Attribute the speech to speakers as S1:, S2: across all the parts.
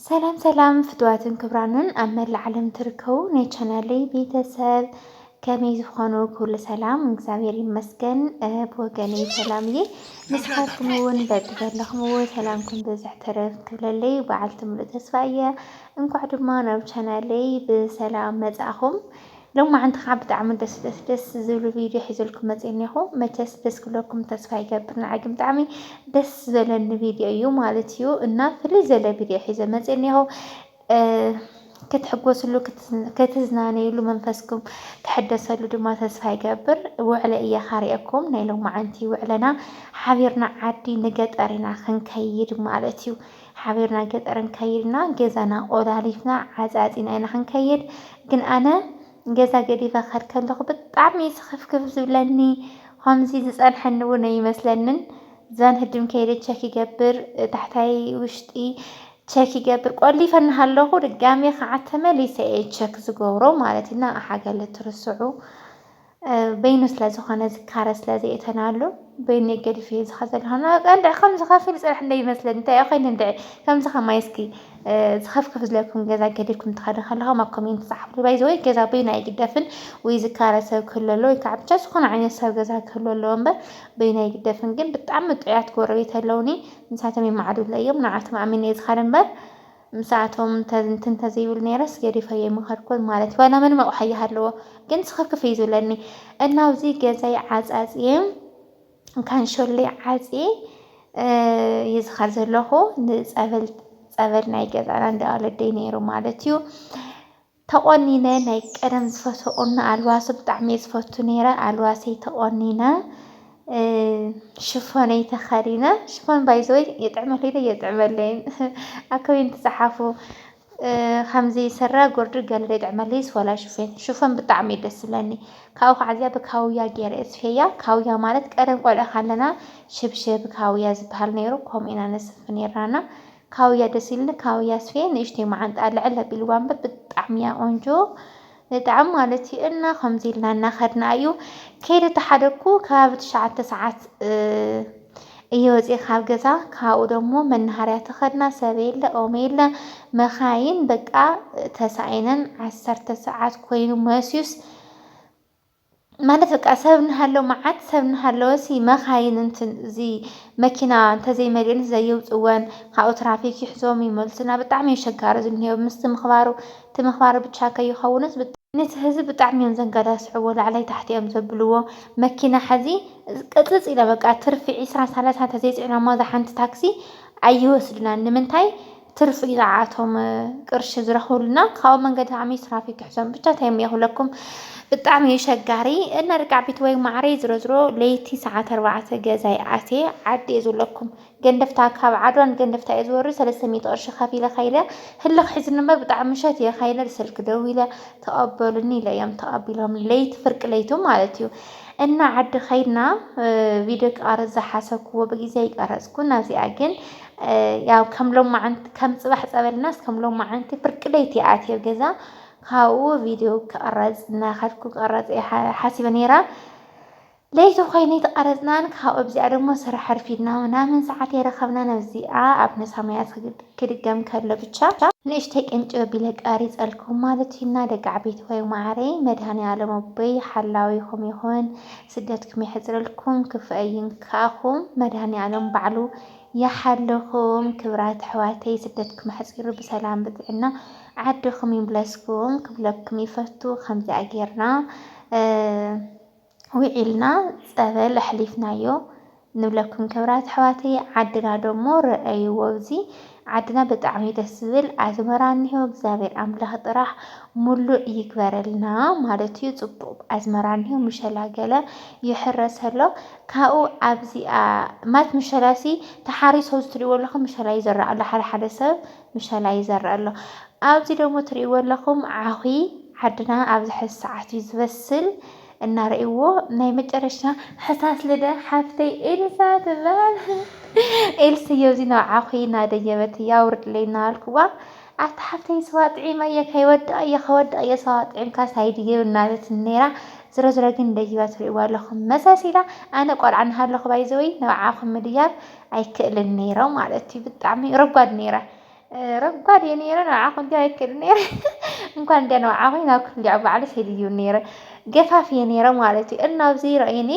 S1: ሰላም ሰላም ፍትዋትን ክብራንን ኣብ መላእ ዓለም ትርከቡ ናይ ቻናለይ ቤተሰብ ከመይ ዝኾኑ ኩሉ ሰላም እግዚኣብሔር ይመስገን ብወገነይ ሰላም እየ ንስኻትኩም እውን በቢ ዘለኹምዎ ሰላምኩም ብዝሕ ተረፍ ክብለለይ በዓልቲ ምሉእ ተስፋ እየ እንኳዕ ድማ ናብ ቻናለይ ብሰላም መጻእኹም ሎማዓንቲ ከዓ ብጣዕሚ ደስ ደስ ደስ ዝብሉ ቪድዮ ሒዘልኩም መፅየ እኒሆ መቸስ ደስ ክብለኩም ተስፋ ይገብር ንዓይ ግን ብጣዕሚ ደስ ዝበለኒ ቪድዮ እዩ ማለት እዩ እና ፍልይ ዘለ ቪድዮ ሒዘ መፅየ እኒሆ ክትሕጎስሉ ክትዝናነይሉ መንፈስኩም ክሕደሰሉ ድማ ተስፋ ይገብር ውዕለ እየ ካሪአኩም ናይ ሎማዓንቲ ውዕለና ሓቢርና ዓዲ ንገጠር ኢና ክንከይድ ማለት እዩ ሓቢርና ገጠር እንከይድ እና ገዛና ቆላሊፍና ዓፃፂና ኢና ክንከይድ ግን ኣነ ገዛ ገዲፈ ክኸድ ከለኹ ብጣዕሚ እዩ ስኽፍክፍ ዝብለኒ ከምዚ ዝፀንሐኒ እውን ኣይመስለንን ዛን ህድም ከይደ ቸክ ይገብር ታሕታይ ውሽጢ ቸክ ይገብር ቆሊፈ እናሃለኹ ድጋሜ ከዓ ተመሊሰ እየ ቸክ ዝገብሮ ማለት እዩ እና ሓገለ ትርስዑ በይኑ ስለዝኾነ ዝካረ ስለዘየእተናሉ በይነይ ገዲፈዮ ዝኸድ ዘለኹ ንበቃ እንድዒ ከምዚ ከፊል ፅራሕ እንድዒ ይመስለኒ እንታይ እዩ ኮይኑ እንድዒ ከምዚ ከማይ እስኪ ዝኸፍከፍ ዝለኩም ገዛ ገዲፍኩም ትኸዱ ከለኹም ኣብ ኮሜንት ፃሓፉልይ ባይ ዘ ወይ ገዛ በይኑ ኣይግደፍን ወይ ዝካረ ሰብ ክህሉ ኣለዎ ወይ ከዓ ብቻ ዝኾነ ዓይነት ሰብ ገዛ ክህሉ ኣለዎ እምበር በይኑ ኣይግደፍን ግን ብጣዕሚ ጥዑያት ጎረቤት ኣለዉኒ ንሳቶም ይመዓዱለይ እዮም ንዓኣቶም ኣሚነ እየ ዝኸድ እምበር ምስኣቶም ተዝንቲ እንተዘይብል ነይረስ ገዲፈዮ ኣይምኸድኩን ማለት እዩ። ዋላ ምንም ኣቕሑ ኣይሃለዎ ግን ስኽፍክፍ እዩ ዝብለኒ እና ኣብዚ ገዛይ ዓፃፅየ ካንሸሎይ ዓፅየ እዩ ዝኸድ ዘለኹ ንፀበል ፀበል ናይ ገዛና እንዳ ወለደይ ነይሩ ማለት እዩ። ተቆኒነ ናይ ቀደም ዝፈትዎ ቁኖ ኣልዋሲ ብጣዕሚ እየ ዝፈቱ ነይረ ኣልዋሰይ ተቆኒነ ሽፎነይ ተከዲነ ሽፎን ባይዘወይ የጥዕመለይ ዶ የጥዕመለይን ኣብ ኮሜንት ጸሓፉ ከምዚ ስረ ጉርዲ ገለ ዶ የጥዕመለይስ ወላ ሽፌን ሽፎን ብጣዕሚ እዩ ደስ ዝብለኒ ካብኡ ከዓ እዚኣ ብካውያ ገይረ እየ ስፌያ ካውያ ማለት ቀደም ቆልዑ ከለና ሽብሽብ ካውያ ዝበሃል ነይሩ ከምኡ ኢና ነስፍ ነይርና ካውያ ደስ ኢልኒ ካውያ ኣስፍየ ንእሽተይ ማዓንጣኣ ልዕል ኣቢልዋ እምበር ብጣዕሚ እያ ቆንጆ ብጣዕሚ ማለት እዩ እና ከምዚ ኢልና እናኸድና እዩ ከይደ ተሓደኩ ከባቢ ትሽዓተ ሰዓት እየ ወፂ ካብ ገዛ ካብኡ ደግሞ መናሃርያ ተኸድና ሰብ የለ ኦም የለ መኻይን በቃ ተሳኢነን ዓሰርተ ሰዓት ኮይኑ መስዩስ ማለት በቃ ሰብ እናሃለወ መዓት ሰብ እናሃለወሲ መኻይን እንትን እዚ መኪና እንተዘይመሊኤን ዘየውፅወን ካብኡ ትራፊክ ይሕዞም ይመልሱና ብጣዕሚ እዩ ኣሸጋሪ ዝንሄው ምስቲ ምኽባሩ እቲ ምኽባሩ ብቻ ከይኸውንስ ነቲ ህዝቢ ብጣዕሚ እዮም ዘንገዳስዕዎ ላዕላይ ታሕታይ እዮም ዘብልዎ መኪና ሐዚ ቅፅፅ ኢላ በቃ ትርፊ ዒስራ ሳላሳ እንተዘይፅዒናሞ እዛ ሓንቲ ታክሲ ኣይወስዱናን ንምንታይ ትርፊ ንዓኣቶም ቅርሺ ዝረኽብሉ እና ካብኡ መንገዲ ዓሚ ትራፊክ ክሕዞም ብቻ እንታይ እሞ ክብለኩም ብጣዕሚ እዩ ሸጋሪ እና ደቂ ዓበይቲ ወይ ማዕረይ ዝሮ ዝሮ ለይቲ ሰዓት ኣርባዕተ ገዛይ ኣትየ ዓዲ እየ ዝብለኩም ገንደፍታ ካብ ዓድዋ ንገንደፍታ እየ ዝወርድ ሰለስተ ሚእቲ ቅርሺ ከፊለ ከይደ ህልኽ ሒዝኒ እምበር ብጣዕሚ ምሸት እየ ከይደ ስልኪ ደዊለ ተቐበሉኒ ኢለ እዮም ተቐቢሎም ለይቲ ፍርቂ ለይቱ ማለት እዩ እና ዓዲ ከይድና ቪድዮ ክቐርፅ ዝሓሰብክዎ ብግዜ ይቀረፅኩ ናዚኣ ግን ያው ከም ሎማዓንቲ ከም ፅባሕ ፀበልናስ ከም ሎማዓንቲ ፍርቂ ለይቲ ኣትየ ኣብ ገዛ ካብኡ ቪድዮ ክቕረፅ እናኸድኩ ክቕረፅ እየ ሓሲበ ነይረ ለይቲ ኮይኑ ተቐረፅናን ካብኡ ኣብዚኣ ደሞ ስራሕ ኣርፊድና ምናምን ሰዓት የረኸብናን ኣብዚኣ ኣብ ነሳማያት ክድገም ከሎ ብቻ ንእሽተይ ቅንጭብ ኣቢለ ቀሪፀልኩም ማለት እዩና ደቂ ዓበይቲ ወይ ማዕረይ መድሃኒ ዓለም ኣቦይ ሓላዊኹም ይኹን ስደትኩም የሕፅረልኩም ክፍኣይን ክኣኹም መድሃኒ ዓለም ባዕሉ ይሓልኹም ክብራት ኣሕዋተይ ስደትኩም ኣሕፂሩ ብሰላም ብጥዕና ዓድኹም ይምለስኩም ክብለኩም ይፈቱ ከምዚኣ ጌርና ዊዒልና ፀበል ኣሕሊፍናዮ ንብለኩም ክብራት ኣሕዋተይ ዓድና ደሞ ረኣይዎ እዚ ዓድና ብጣዕሚ ደስ ዝብል ኣዝመራ እኒሆ እግዚኣብሔር ኣምላኽ ጥራሕ ሙሉእ ይግበረልና ማለት እዩ ፅቡቅ ኣዝመራ እኒሆ ምሸላ ገለ ይሕረሰሎ ካብኡ ኣብዚኣ ማለት ምሸላሲ ተሓሪሱ ኣብዚ ትሪእዎ ኣለኹም ምሸላ ይዘርእ ኣሎ ሓደ ሓደ ሰብ ምሸላ ይዘርእ ኣሎ። ኣብዚ ደግሞ ትሪእዎ ኣለኹም ዓኺ ዓድና ኣብዚ ሕዚ ሰዓት እዩ ዝበስል እና ሪእዎ ናይ መጨረሻ ሕሳስ ልደ ሓፍተይ ኤልሳ ትበሃል ኤልስዮ ኣብዚ ናብ ዓኺ እናደየበት እያ ኣውርድለይ እናበልኩዋ ኣታ ሓፍተይ ስዋ ጥዒመ እየ ከይወድቕ እየ ከወድቕ እየ ስዋ ጥዒምካስ ኣይድየብ እናበለትኒ ነይራ። ዝሮዝሮ ግን ደይባ ትሪእዋ ኣለኹም መሳሲላ ኣነ ቆልዓ እናሃለኹ ባይዘወይ ንብዓኣ ክምድያብ ኣይክእልን ነይረ ማለት እዩ ብጣዕሚ ረጓድ ነይረ ረጓድ እየ ነይረ ንብዓኣ ክምድያብ ኣይክእልን ነይረ እንኳን እንዲያ ንብዓኣ ኮይኑ ናብ ክፍሊ ባዕሉ ሒድዩ ነይረ ገፋፍ እየ ነይረ ማለት እዩ እና ኣብዚ ረእዩኒ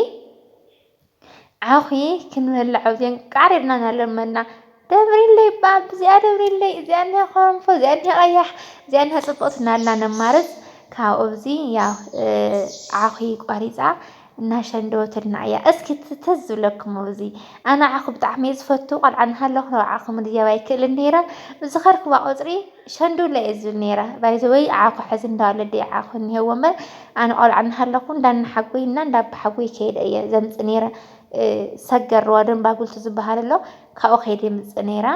S1: ዓኺ ክንበልዕ ኣብዚኣን ቃሪብና እናለመና ደብሪለይ እባ ብዚኣ ደብሪለይ እዚኣ እኒሃ ኮረንፎ እዚኣ እኒሃ ቀያሕ እዚኣ እኒሃ ፅብቕቲ እናልና ነማርፅ ካብኡ እዚ ያው ዓኺ ቆሪፃ እናሸንደወትልና እያ። እስኪ ትዝ ዝብለኩም ኣብዚ ኣነ ዓኺ ብጣዕሚ እየ ዝፈቱ ቆልዓ እናሃለኹ ናብ ዓኺ ምድያብ ኣይክእልን ነይረ ብዝኸድኩዋ ቁፅሪ ሸንዱለ እየ ዝብል ነይረ ባይዘወይ ዓኾ ሕዚ እንዳ ወለዲ ዓኾ እኒሄዎ እምበር ኣነ ቆልዓ እናሃለኹ እንዳ እናሓጎይና እንዳ ኣባሓጎይ ከይደ እየ ዘምፅእ ነይረ ሰገር ሩባ ደንባጉልቲ ዝበሃል ኣሎ ካብኡ ከይደ የምፅእ ነይረ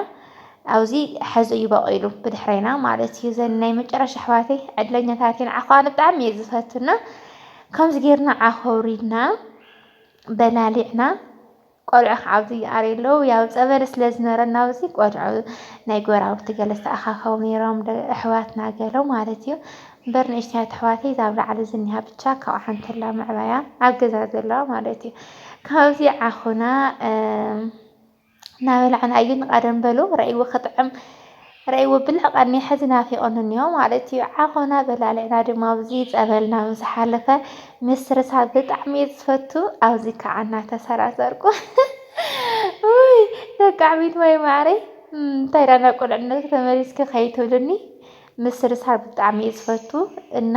S1: ኣብዚ ሕዚ እዩ በቂሉ ብድሕረይና ማለት እዩ ዘን ናይ መጨረሻ ኣሕዋተይ ዕድለኛታት እየን ዓኾ ኣነ ብጣዕሚ እየ ዝፈቱና ከምዚ ጌርና ዓኾ ውሪድና በላሊዕና ቆልዑ ክዓብዩ ይኣርዩ ኣለዉ ያው ጸበል ስለ ዝነበረ ናብዚ ቆልዑ ናይ ጎራብቲ ገለ ዝተኣኻኸቡ ነይሮም ኣሕዋትና ገለ ማለት እዩ እምበር ንእሽተያት ኣሕዋተይ እዛ ኣብ ላዕሊ ዝኒሃ ብቻ ካብ ዓንተላ ምዕባያ ኣብ ገዛ ዘለዋ ማለት እዩ ካብዚ ዓኹና እናበላዕና እዩ ንቐደም በሉ ረእይዎ ክጥዕም ረይዎ ብልዕ ቀንየ ሕዚ ናፊቆም እንዮ ማለት እዩ ዓኾና በላሊዕና ድማ ኣብዚ ፀበል ናብ ዝሓለፈ ምስርሳር ብጣዕሚ እየ ዝፈቱ ኣብዚ ከዓ እናተሰራሰርኩ ውይ ደቃዕሚት ማይ ማዕረይ እንታይ ዳ ናብ ቁልዕነት ተመሊስኪ ከይትብልኒ ምስርሳር ብጣዕሚ እየ ዝፈቱ እና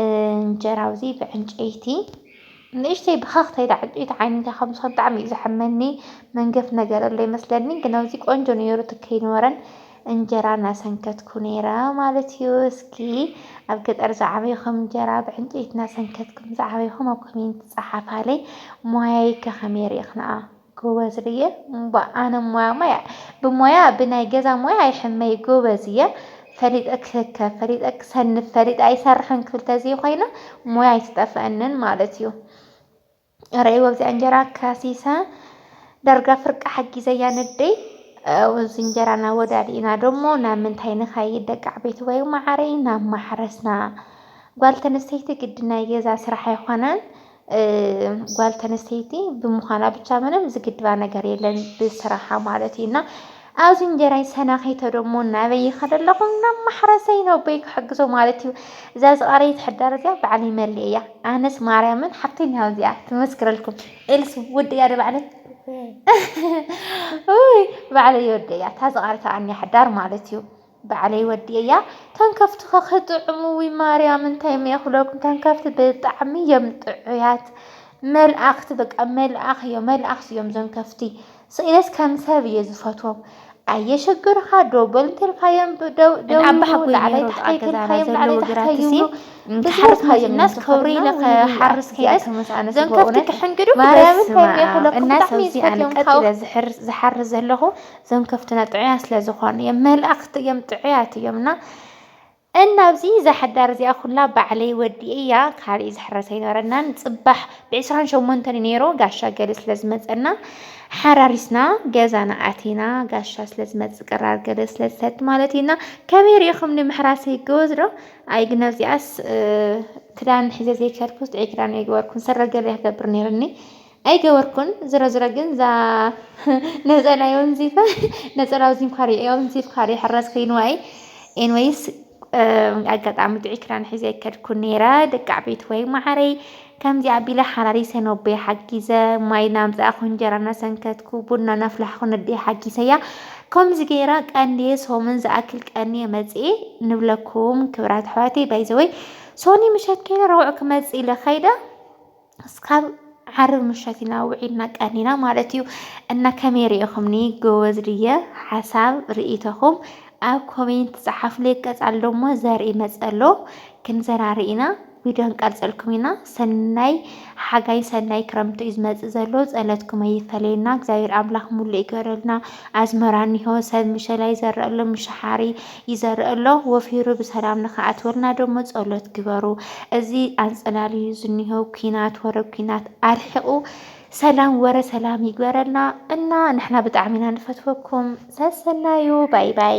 S1: እንጀራ ኣብዚ ብዕንጨይቲ ንእሽተይ ብኸኽተይ ዳ ዕንጨይቲ ዓይነታ ከም ዝኾነ ብጣዕሚ እዩ ዘሕመኒ መንገፍ ነገር ኣሎ ይመስለኒ ግን ኣብዚ ቆንጆ ነይሩ እቲ ከይነበረን እንጀራ እናሰንከትኩ ነይረ ማለት እዩ። እስኪ ኣብ ገጠር ዝዓበይኹም እንጀራ ብዕንጨይቲ እናሰንከትኩም ዝዓበይኹም ኣብ ኮሜንት ፀሓፋለይ ሞያይከ ከመይ ርኢኽንኣ? ጎበዝ ርየ እባ ኣነ ሞያ ሞያ ብሞያ ብናይ ገዛ ሞያ ኣይሕመይ ጎበዝ እየ ፈሊጠ ክህከ ፈሊጠ ክሰንፍ ፈሊጠ ኣይሰርሕን ክብል ተዘይኮይነ ሞያ ኣይትጠፍአንን ማለት እዩ ረይ ወብዚኣ እንጀራ ከሲሰ ዳርጋ ፍርቂ ሓጊዘያ ነደይ እዚ እንጀራና ወዳዲእና ደሞ ናብ ምንታይ ንኸይድ ደቂ ዓበይቲ ወይ ማዓረይ ናብ ማሕረስና ጓል ተንስተይቲ ግዲ ናይ ገዛ ስራሕ ኣይኮነን ጓል ተነስተይቲ ብምዃና ብቻ ምንም ዝግድባ ነገር የለን ብስራሓ ማለት እዩ እና ኣብዚ እንጀራይ ሰናኺቶ ደሞ ናበይ ይኸደ ኣለኹ ናብ ማሕረሰይ ነው በይ ክሕግዞ ማለት እዩ እዛ ዝቐረየት ሕዳር እዚኣ ባዕለይ መሊእ እያ ኣነስ ማርያምን ሓፍተኛ እዚኣ ትመስክረልኩም ኤልሱ ውድ እያ ባዕለይ ባዕለይ ወደ እያ እታ ዝቐረታ ኣንያ ሕዳር ማለት እዩ ባዕለይ ወዲኤያ እተን ከፍቲ ከ ክጥዕሙ እውይ ማርያም እንታይ እየ ክብለኩም እተን ከፍቲ ብጣዕሚ እዮም ጥዑያት መልኣክቲ በቃ መልኣክ እዮም መልኣክቲ እዮም እዞም ከፍቲ ስኢነስ ከም ሰብ እየ ዝፈትዎም ኣየሸግርኻ ደው በል እንተልካዮም ደው ደው ኣባ ሓጎይ ላዕላይ ነይሩ
S2: ታሕታይ ጥቓ
S1: ገዛና ተልካዮም ላዕላይ ዘለዉ ታሕታይ ግራትሲ ይብሉ እንተሓርስ ብዝወት
S2: ሃዮም መፂናስ ከብሪ ኢለ ክሓርስ ከይደስ ተመስኣነስ እዞም ከፍቲ በእውነት
S1: ክሕንግዱ ማርያም በስመ እንታይ እዮም ኣብ
S2: ክብለኩም እናሰብ ብጣዕሚ እየ እዚ ኣነ ዝፈትዮም ካብ ቀጢለ ዝሕር- ዝሓርስ ዘለኹ እዞም ከፍትና ጥዑያት ስለ ዝኾኑ እዮም መላእኽቲ እዮም ጥዑያት እዮም እና እና ኣብዚ እዛ ሓዳር እዚኣ ኩላ ባዕለይ ወዲኤያ ካልእ ዝሕረሰ ኣይነበረናን ፅባሕ ብዕስራን ሸሞንተን እዩ ነይሩ ጋሻ ገለ ስለ ዝመፀና ሓራሪስና ገዛና ኣቲና ጋሻ ስለ ዝመፅእ ቅራር ገለ ስለ ዝሰድ ማለት እዩና ከመይ ሪኢኹም ንምሕራስ ይገወዝ ዶ ኣይ ግን ኣብዚኣስ ክዳን ሒዘ ዘይከድኩስ ጥዑይ ክዳን የግበርኩን ስረ ገለ ክገብር ነይርኒ ኣይገበርኩን ዝረዝረ ግን እዛ ነፀላ የውንዚፋ ነፀላ ውዚንኳ የውንዚፍካ ይሕረስ ኮይንዋ እዩ ኤንወይስ ኣጋጣሚ ጥዑይ ክዳን ሒዘ ኣይከድኩን ነይረ ደቂ ዓበይቲ ወይ ማዓረይ ከምዚ ኣቢለ ሓላሊ ሰነቦይ ሓጊዘ ማይ ናምፃእኹ እንጀራ እናሰንከትኩ ቡና ናፍላሕኹ ነደይ ሓጊሰያ ከምዚ ገይረ ቀንድየ ሶምን ዝኣክል ቀንየ መፅኤ ንብለኩም ክብራት ኣሕዋተይ ባይዘወይ ሶኒ ምሸት ከይደ ረቡዕ ክመፅእ ኢለ ከይደ እስካብ ዓርብ ምሸት ኢና ውዒልና ቀኒና ማለት እዩ እና ከመይ ሪኢኹምኒ ጎበዝ ድየ ሓሳብ ርኢቶኹም ኣብ ኮሜንት ፀሓፍለይ ቀፃል ደሞ ዘርኢ መፀሎ ክንዘራሪ ኢና ቪድዮ ንቀርፀልኩም ኢና ሰናይ ሓጋይ ሰናይ ክረምቲ እዩ ዝመፅእ ዘሎ ፀለትኩም ኣይፈለየና እግዚኣብሔር ኣምላኽ ሙሉእ ይገረልና ኣዝመራ እኒሆ ሰብ ምሸላይ ዘረእሎ ምሸሓሪ ይዘርእ ኣሎ ወፊሩ ብሰላም ንክኣትወልና ደሞ ጸሎት ግበሩ። እዚ ኣንጸላልዩ ዝኒሆ ኩናት ወረ ኩናት ኣርሒቑ ሰላም ወረ ሰላም ይግበረልና እና ንሕና ብጣዕሚና ንፈትወኩም ሰሰናዩ ባይ ባይ